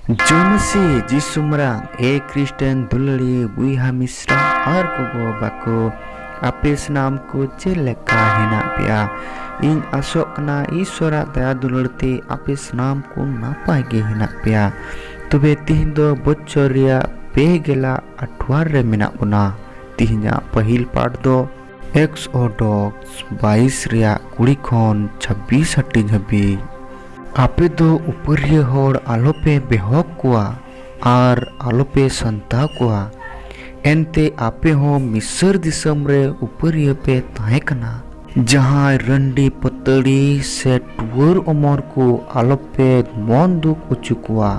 ᱡᱚᱢᱥᱤ ᱡᱤᱥᱩᱢᱨᱟᱝ ᱮ ᱠᱨᱤᱥᱴᱮᱱ ᱫᱩᱞᱟᱹᱲᱤ ᱵᱩᱭᱦᱟ ᱢᱤᱥᱨᱟ ᱟᱨ ᱜᱚᱜᱚ ᱵᱟᱠᱚ ᱟᱯᱮ ᱥᱟᱱᱟᱢ ᱠᱚ ᱪᱮᱫ ᱞᱮᱠᱟ ᱦᱮᱱᱟᱜ ᱯᱮᱭᱟ ᱤᱧ ᱟᱥᱚᱜ ᱠᱟᱱᱟ ᱤᱥᱚᱨᱟᱜ ᱫᱟᱭᱟ ᱫᱩᱞᱟᱹᱲ ᱛᱮ ᱟᱯᱮ ᱥᱟᱱᱟᱢ ᱠᱚ ᱱᱟᱯᱟᱭ ᱜᱮ ᱦᱮᱱᱟᱜ ᱯᱮᱭᱟ ᱛᱚᱵᱮ ᱛᱤᱦᱤᱧ ᱫᱚ ᱵᱚᱪᱷᱚᱨ ᱨᱮᱭᱟᱜ ᱯᱮ ᱜᱮᱞᱟ ᱟᱴᱷᱣᱟᱨ ᱨᱮ ᱢᱮᱱᱟᱜ ᱵᱚᱱᱟ ᱛᱤᱦᱤᱧᱟᱜ ᱯᱟᱹᱦᱤᱞ ᱯᱟᱴ ᱫᱚ ᱮᱠᱥᱚᱰᱚᱠᱥ ᱵᱟᱭᱤᱥ ᱨᱮᱭᱟᱜ ᱠᱩᱲᱤ ᱠᱷᱚᱱ ᱪᱷᱟᱵᱵᱤᱥ ᱦᱟᱹᱴᱤᱧ ᱦᱟᱹᱵᱤᱡ᱾ ᱟᱯᱮ ᱫᱚ ᱩᱯᱟᱹᱨᱤᱭᱟᱹ ᱦᱚᱲ ᱟᱞᱚᱯᱮ ᱵᱮᱦᱚᱜ ᱠᱚᱣᱟ ᱟᱨ ᱟᱞᱚᱯᱮ ᱥᱟᱱᱛᱟᱣ ᱠᱚᱣᱟ᱾ ᱮᱱᱛᱮ ᱟᱯᱮ ᱦᱚᱸ ᱢᱤᱥᱚᱨ ᱫᱤᱥᱚᱢ ᱨᱮ ᱩᱯᱟᱹᱨᱤᱭᱟᱹ ᱯᱮ ᱛᱟᱦᱮᱸ ᱠᱟᱱᱟ᱾ ᱡᱟᱦᱟᱸᱭ ᱨᱟᱺᱰᱤ ᱯᱟᱹᱛᱟᱹᱲᱤ ᱥᱮ ᱴᱩᱣᱟᱹᱨ ᱚᱢᱚᱨ ᱠᱚ ᱟᱞᱚᱯᱮ ᱢᱚᱱ ᱫᱩᱠ ᱚᱪᱚ ᱠᱚᱣᱟ᱾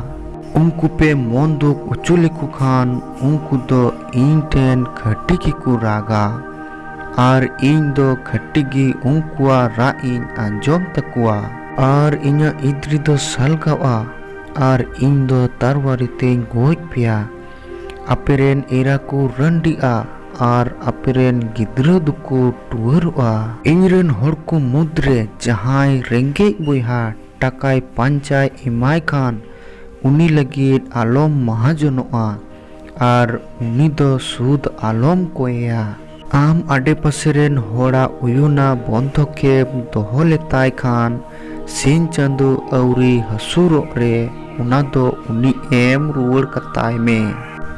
ᱩᱱᱠᱩ ᱯᱮ ᱢᱚᱱ ᱫᱩᱠ ᱚᱪᱚ ᱞᱮᱠᱚ ᱠᱷᱟᱱ ᱩᱱᱠᱩ ᱫᱚ᱾ ᱤᱧ ᱴᱷᱮᱱ ᱠᱷᱟᱹᱴᱤ ᱜᱮᱠᱚ ᱨᱟᱜᱟ ᱟᱨ ᱤᱧ ᱫᱚ ᱠᱷᱟᱹᱴᱤ ᱜᱮ ᱩᱱᱠᱩᱣᱟᱜ ᱨᱟᱜ ᱤᱧ ᱟᱸᱡᱚᱢ ᱛᱟᱠᱚᱣᱟ᱾ ᱟᱨ ᱤᱧᱟᱜ ᱤᱫᱽᱨᱤ ᱫᱚ ᱥᱟᱞᱜᱟᱣᱜᱼᱟ ᱟᱨ ᱤᱧ ᱫᱚ ᱛᱟᱨᱣᱟᱨᱤ ᱛᱮᱧ ᱜᱚᱡ ᱯᱮᱭᱟ᱾ ᱟᱯᱮ ᱨᱮᱱ ᱮᱨᱟ ᱠᱚ ᱨᱟᱺᱰᱤᱜᱼᱟ ᱟᱨ ᱟᱯᱮ ᱨᱮᱱ ᱜᱤᱫᱽᱨᱟᱹ ᱫᱚᱠᱚ ᱴᱩᱣᱟᱹᱨᱚᱜᱼᱟ᱾ ᱤᱧ ᱨᱮᱱ ᱦᱚᱲ ᱠᱚ ᱢᱩᱫᱽ ᱨᱮ ᱡᱟᱦᱟᱸᱭ ᱨᱮᱸᱜᱮᱡ ᱵᱚᱭᱦᱟ ᱴᱟᱠᱟᱭ ᱯᱟᱧᱪᱟᱭ ᱮᱢᱟᱭ ᱠᱷᱟᱱ ᱩᱱᱤ ᱞᱟᱹᱜᱤᱫ ᱟᱞᱚᱢ ᱢᱟᱦᱟᱡᱚᱱᱚᱜᱼᱟ᱾ ᱟᱨ ᱩᱱᱤ ᱫᱚ ᱥᱩᱫᱽ ᱟᱞᱚᱢ ᱠᱚᱭᱮᱭᱟ᱾ ᱟᱢ ᱟᱰᱮᱯᱟᱥᱮ ᱨᱮᱱ ᱦᱚᱲᱟᱜ ᱩᱭᱩᱱᱟ ᱵᱚᱱᱫᱷᱚᱠᱮᱵᱽ ᱫᱚᱦᱚ ᱞᱮᱛᱟᱭ ᱠᱷᱟᱱ ᱥᱤᱧ ᱪᱟᱸᱫᱚ ᱟᱹᱣᱨᱤ ᱦᱟᱹᱥᱩᱨᱚᱜ ᱨᱮ ᱚᱱᱟ ᱫᱚ ᱩᱱᱤ ᱮᱢ ᱨᱩᱣᱟᱹᱲ ᱠᱟᱛᱟᱭ ᱢᱮ᱾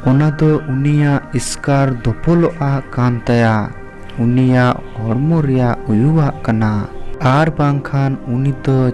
ᱚᱱᱟ ᱫᱚ ᱩᱱᱤᱭᱟᱜ ᱤᱥᱠᱟᱨ ᱫᱚᱯᱚᱞᱚᱜᱼᱟᱜ ᱠᱟᱱ ᱛᱟᱭᱟ, ᱩᱱᱤᱭᱟᱜ ᱦᱚᱲᱢᱚ ᱨᱮᱭᱟᱜ ᱩᱭᱩᱣᱟᱜ ᱠᱟᱱᱟ᱾ ᱟᱨ ᱵᱟᱝᱠᱷᱟᱱ ᱩᱱᱤ ᱫᱚ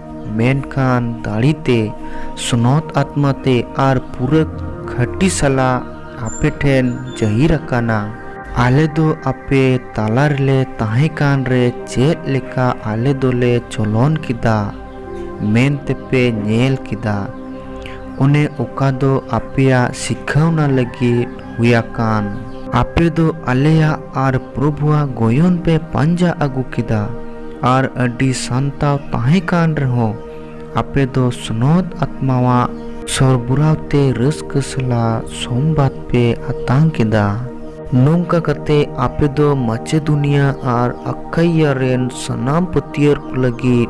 ᱢᱮᱱᱠᱷᱟᱱ ᱫᱟᱲᱮ ᱛᱮ ᱥᱱᱚᱛ ᱟᱛᱢᱟ ᱛᱮ ᱟᱨ ᱯᱩᱨᱟᱹ ᱠᱷᱟᱹᱴᱤ ᱥᱟᱞᱟᱜ ᱟᱯᱮ ᱴᱷᱮᱱ ᱡᱟᱹᱦᱤᱨ ᱟᱠᱟᱱᱟ᱾ ᱟᱞᱮ ᱫᱚ ᱟᱯᱮ ᱛᱟᱞᱟ ᱨᱮᱞᱮ ᱛᱟᱦᱮᱸ ᱠᱟᱱ ᱨᱮ ᱪᱮᱫ ᱞᱮᱠᱟ ᱟᱞᱮ ᱫᱚᱞᱮ ᱪᱚᱞᱚᱱ ᱠᱮᱫᱟ ᱢᱮᱱᱛᱮ ᱯᱮ ᱧᱮᱞ ᱠᱮᱫᱟ᱾ ᱚᱱᱮ ᱚᱠᱟ ᱫᱚ ᱟᱯᱮᱭᱟᱜ ᱥᱤᱠᱷᱟᱹᱣᱱᱟ ᱞᱟᱹᱜᱤᱫ ᱦᱩᱭ ᱟᱠᱟᱱ᱾ ᱟᱯᱮ ᱫᱚ ᱟᱞᱮᱭᱟᱜ ᱟᱨ ᱯᱨᱚᱵᱷᱩᱣᱟᱜ ᱜᱚᱭᱚᱱ ᱯᱮ ᱯᱟᱸᱡᱟ ᱟᱹᱜᱩ ᱠᱮᱫᱟ ᱟᱨ ᱟᱹᱰᱤ ᱥᱟᱱᱛᱟᱣ ᱛᱟᱦᱮᱸ ᱠᱟᱱ ᱨᱮᱦᱚᱸ ᱟᱯᱮ ᱫᱚ ᱥᱱᱚᱛ ᱟᱛᱢᱟᱣᱟᱜ ᱥᱚᱨᱵᱚᱨᱟᱣ ᱛᱮ ᱨᱟᱹᱥᱠᱟᱹ ᱥᱟᱞᱟᱜ ᱥᱚᱢᱵᱟᱫᱽ ᱯᱮ ᱟᱛᱟᱝ ᱠᱮᱫᱟ᱾ ᱱᱚᱝᱠᱟ ᱠᱟᱛᱮ ᱟᱯᱮ ᱫᱚ ᱢᱟᱪᱮᱫᱩᱱᱤᱭᱟ ᱟᱨ ᱟᱠᱷᱟᱭᱭᱟ ᱨᱮᱱ ᱥᱟᱱᱟᱢ ᱯᱟᱹᱛᱭᱟᱹᱨ ᱠᱚ ᱞᱟᱹᱜᱤᱫ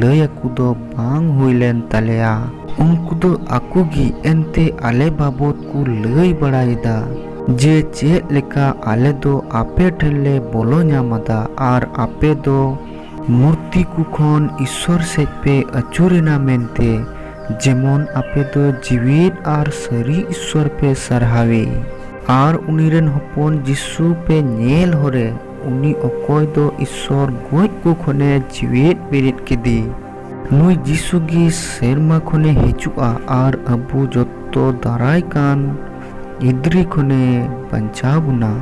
ᱞᱟᱹᱭ ᱟᱠᱚ ᱫᱚ ᱵᱟᱝ ᱦᱩᱭ ᱞᱮᱱ ᱛᱟᱞᱮᱭᱟ᱾ ᱩᱱᱠᱩ ᱫᱚ ᱟᱠᱚ ᱜᱮ ᱮᱱᱛᱮ ᱟᱞᱮ ᱵᱟᱵᱚᱛ ᱠᱚ ᱞᱟᱹᱭ ᱵᱟᱲᱟᱭᱮᱫᱟ ᱡᱮ ᱪᱮᱫ ᱞᱮᱠᱟ ᱟᱞᱮ ᱫᱚ ᱟᱯᱮ ᱴᱷᱮᱱ ᱞᱮ ᱵᱚᱞᱚ ᱧᱟᱢ ᱟᱫᱟ ᱟᱨ ᱟᱯᱮ ᱫᱚ ᱢᱩᱨᱛᱤ ᱠᱚ ᱠᱷᱚᱱ ᱤᱥᱥᱚᱨ ᱥᱮᱡ ᱯᱮ ᱟᱹᱪᱩᱨ ᱮᱱᱟ ᱢᱮᱱᱛᱮ ᱡᱮᱢᱚᱱ ᱟᱯᱮ ᱫᱚ ᱡᱤᱣᱤᱫ ᱟᱨ ᱥᱟᱹᱨᱤ ᱤᱥᱥᱚᱨ ᱯᱮ ᱥᱟᱨᱦᱟᱣᱮ ᱟᱨ ᱩᱱᱤ ᱨᱮᱱ ᱦᱚᱯᱚᱱ ᱡᱤᱥᱩ ᱯᱮ ᱧᱮᱞ ᱦᱚᱨᱮ᱾ ᱩᱱᱤ ᱚᱠᱚᱭ ᱫᱚ ᱤᱥᱥᱚᱨ ᱜᱚᱡ ᱠᱚ ᱠᱷᱚᱱᱮ ᱡᱤᱣᱮᱫ ᱵᱮᱨᱮᱫ ᱠᱮᱫᱮ᱾ ᱱᱩᱭ ᱡᱤᱥᱩ ᱜᱮ ᱥᱮᱨᱢᱟ ᱠᱷᱚᱱᱮ ᱦᱤᱡᱩᱜᱼᱟ ᱟᱨ ᱟᱵᱚ ᱡᱚᱛᱚ ᱫᱟᱨᱟᱭ ᱠᱟᱱ ᱜᱤᱫᱽᱨᱟᱹ ᱠᱷᱚᱱᱮ ᱵᱟᱧᱪᱟᱣ ᱵᱚᱱᱟ᱾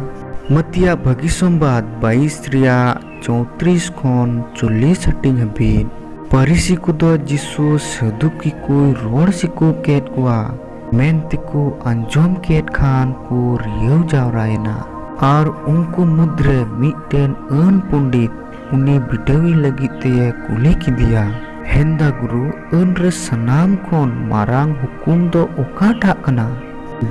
ᱢᱟᱛᱤᱭᱟ ᱵᱷᱟᱹᱜᱤ ᱥᱚᱢᱵᱟᱫᱽ ᱵᱟᱭᱤᱥ ᱨᱮᱭᱟᱜ ᱪᱳᱣᱛᱨᱤᱥ ᱠᱷᱚᱱ ᱪᱚᱞᱞᱤᱥ ᱦᱟᱹᱴᱤᱧ ᱦᱟᱹᱵᱤᱡ᱾ ᱯᱟᱹᱨᱤᱥᱤ ᱠᱚᱫᱚ ᱡᱤᱥᱩ ᱥᱟᱹᱫᱩᱠᱤ ᱠᱚᱭ ᱨᱚᱲ ᱥᱤᱠᱟᱹᱣ ᱠᱮᱫ ᱠᱚᱣᱟ᱾ ᱢᱮᱱᱛᱮᱠᱚ ᱟᱸᱡᱚᱢ ᱠᱮᱫ ᱠᱷᱟᱱ ᱠᱚ ᱨᱤᱭᱟᱹᱣ ᱡᱟᱣᱨᱟᱭᱮᱱᱟ᱾ ᱟᱨ ᱩᱱᱠᱩ ᱢᱩᱫᱽᱨᱮ ᱢᱤᱫᱴᱮᱱ ᱟᱹᱱ ᱯᱚᱸᱰᱤᱛ ᱩᱱᱤ ᱵᱤᱰᱟᱹᱣᱤ ᱞᱟᱹᱜᱤᱫ ᱛᱮᱭᱮ ᱠᱩᱞᱤ ᱠᱮᱫᱮᱭᱟ᱾ ᱦᱮᱱᱫᱟ ᱜᱩᱨᱩ, ᱟᱹᱱ ᱨᱮ ᱥᱟᱱᱟᱢ ᱠᱷᱚᱱ ᱢᱟᱨᱟᱝ ᱦᱩᱠᱩᱢ ᱫᱚ ᱚᱠᱟᱴᱟᱜ ᱠᱟᱱᱟ?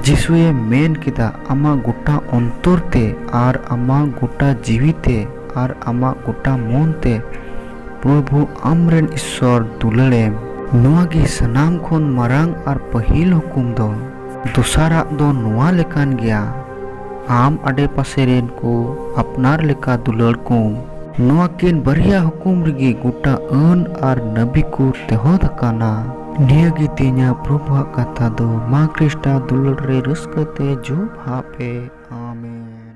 ᱡᱤᱥᱩᱭᱮ ᱢᱮᱱ ᱠᱮᱫᱟ, ᱟᱢᱟᱜ ᱜᱚᱴᱟ ᱚᱱᱛᱚᱨ ᱛᱮ ᱟᱨ ᱟᱢᱟᱜ ᱜᱚᱴᱟ ᱡᱤᱣᱤ ᱛᱮ ᱟᱨ ᱟᱢᱟᱜ ᱜᱚᱴᱟ ᱢᱚᱱ ᱛᱮ᱾ ᱯᱨᱚᱵᱷᱩ ᱟᱢᱨᱮᱱ ᱤᱥᱥᱚᱨ ᱫᱩᱞᱟᱹᱲᱮᱢ᱾ ᱱᱚᱣᱟ ᱜᱮ ᱥᱟᱱᱟᱢ ᱠᱷᱚᱱ ᱢᱟᱨᱟᱝ ᱟᱨ ᱯᱟᱹᱦᱤᱞ ᱦᱩᱠᱩᱢ ᱫᱚ᱾ ᱫᱚᱥᱟᱨᱟᱜ ᱫᱚ ᱱᱚᱣᱟ ᱞᱮᱠᱟᱱ ᱜᱮᱭᱟ, ᱟᱢ ᱟᱰᱮᱯᱟᱥᱮ ᱨᱤᱱ ᱠᱚ ᱟᱯᱱᱟᱨ ᱞᱮᱠᱟ ᱫᱩᱞᱟᱹᱲ ᱠᱚᱢ᱾ ᱱᱚᱣᱟ ᱠᱤᱱ ᱵᱟᱨᱭᱟ ᱦᱩᱠᱩᱢ ᱨᱮᱜᱮ ᱜᱚᱴᱟ ᱟᱹᱱ ᱟᱨ ᱱᱟᱹᱵᱤ ᱠᱚ ᱛᱮᱦᱚᱫ ᱟᱠᱟᱱᱟ᱾ ᱱᱤᱭᱟᱹ ᱜᱮ ᱛᱮᱦᱮᱧᱟᱜ ᱯᱨᱚᱵᱷᱩᱣᱟᱜ ᱠᱟᱛᱷᱟ ᱫᱚ᱾ ᱢᱟ ᱠᱨᱤᱥᱴᱟᱜ ᱫᱩᱞᱟᱹᱲ ᱨᱮ ᱨᱟᱹᱥᱠᱟᱹ ᱛᱮ ᱡᱚᱵᱷᱟᱵᱽ ᱯᱮ᱾ ᱟᱢᱮᱱ᱾